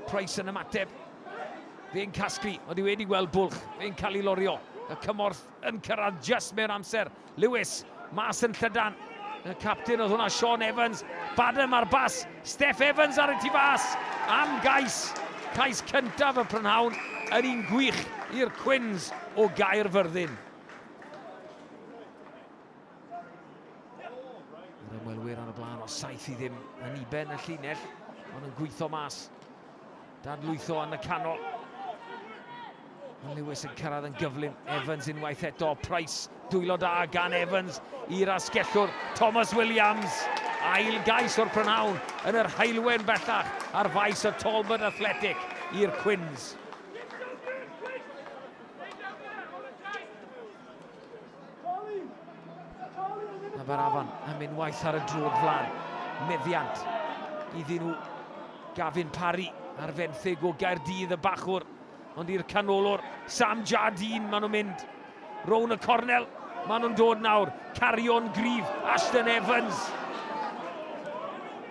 Price yn ymateb. Fe'n casglu, ond i wedi gweld bwlch, fe'n cael ei lorio. Y cymorth yn cyrraedd just mewn amser. Lewis, mas yn llydan. Y captain oedd hwnna, Sean Evans. Badham ar bas, Steph Evans ar y tu fas. Am gais, cais cyntaf y prynhawn yn un gwych i'r Cwins o Gaerfyrddin. Yr ymwelwyr ar y blaen o saith i ddim yn iben y llinell, ond yn gweithio mas. Dan lwytho yn y canol. Mae Lewis yn cyrraedd yn gyflym. Evans unwaith eto. Price, dwylo da gan Evans i'r asgellwr. Thomas Williams, ail gais o'r prynawn yn yr haelwen bellach ar faes y Talbot Athletic i'r Cwins. A mae'r afon yn mynd waith ar y drwg flan. Meddiant iddyn nhw. Gavin Parry ar fenthyg o Gaerdydd y bachwr. Ond i'r canolwr, Sam Jardine, maen nhw'n mynd. Rown y cornel, maen nhw'n dod nawr. Carion grif, Ashton Evans.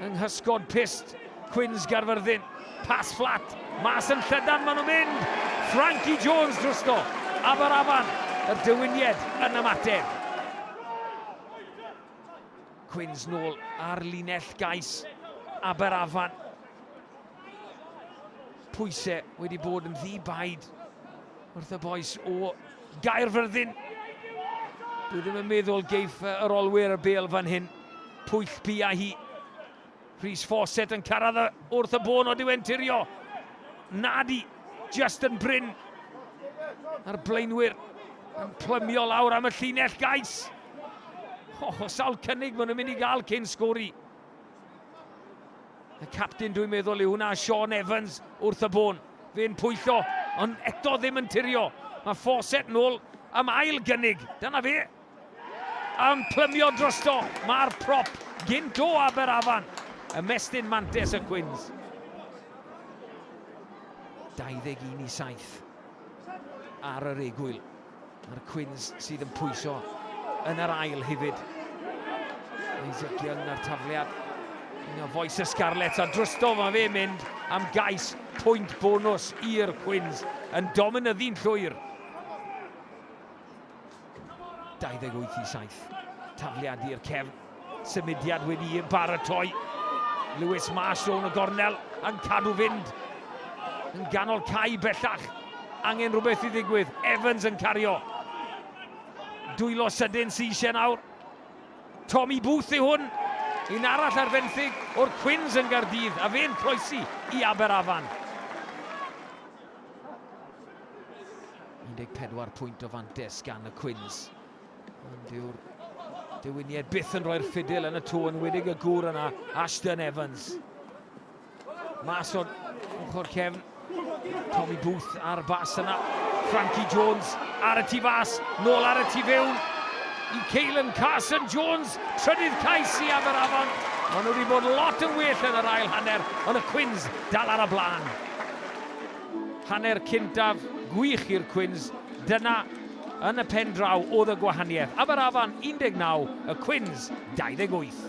Yng nghysgod pist, Cwins Garfyrddin. Pas fflat, mas yn llydan maen nhw'n mynd! Frankie Jones drosto, Abaraban, yr Dywynied yn ymateb. Quins nôl ar linell gais Aberafan. Pwysau wedi bod yn ddi baid wrth y boes o Gaerfyrddin. Dwi ddim yn meddwl geiff yr olwyr y bel fan hyn. Pwyll bia hi. Rhys Fawcett yn cyrraedd y, wrth y bôn o diwen tirio. Nadi, just yn brin. A'r blaenwyr yn plymio lawr am y llinell gais. O, oh, sawl cynnig maen nhw'n mynd i gael cyn sgori. Y captain dwi'n meddwl yw hwnna, Sean Evans wrth y bôn. Fe'n pwyllo, ond eto ddim yn tirio. Mae Fawcett nôl am ail gynnig. Dyna fe. Yn plymio drosto, mae'r prop gynt o Aberafan, ymestyn mantes y Cwins. 21 i 7 ar yr egwyl. Mae'r Cwins sydd yn pwyso yn yr ail hefyd. Isaac Young ar tafliad. Un o foes y Scarlets a drosto mae fe mynd am gais pwynt bonus i'r Cwins yn dominyddu'n llwyr. 28 i 7. Tafliad i'r cefn. Symudiad wedi yn baratoi. Lewis Marsh o'n y gornel yn cadw fynd. Yn ganol cae bellach. Angen rhywbeth i ddigwydd. Evans yn cario. Dwylo sydyn sy'n eisiau nawr. Tommy Booth i hwn. Un arall ar fenthyg o'r Cwins yn Gardydd a fe'n croesi i Aberafan. 14 pwynt o fantes gan y Cwins. Ond yw'r Dewiniaid byth yn rhoi'r ffidil yn y tŵ yn wydig y gŵr yna, Ashton Evans. Mas o'r ochr cefn, Tommy Booth ar bas yna, Frankie Jones ar y tu fas, nôl ar y tu fewn, i Caelan Carson Jones, trydydd cais i Aberafon. Maen nhw wedi bod lot yn well yn yr ail hanner, ond y Cwins dal ar y blaen. Hanner cyntaf gwych i'r Cwins, dyna yn y pen draw oedd y gwahaniaeth, Aberafan 19, y Cwins 28.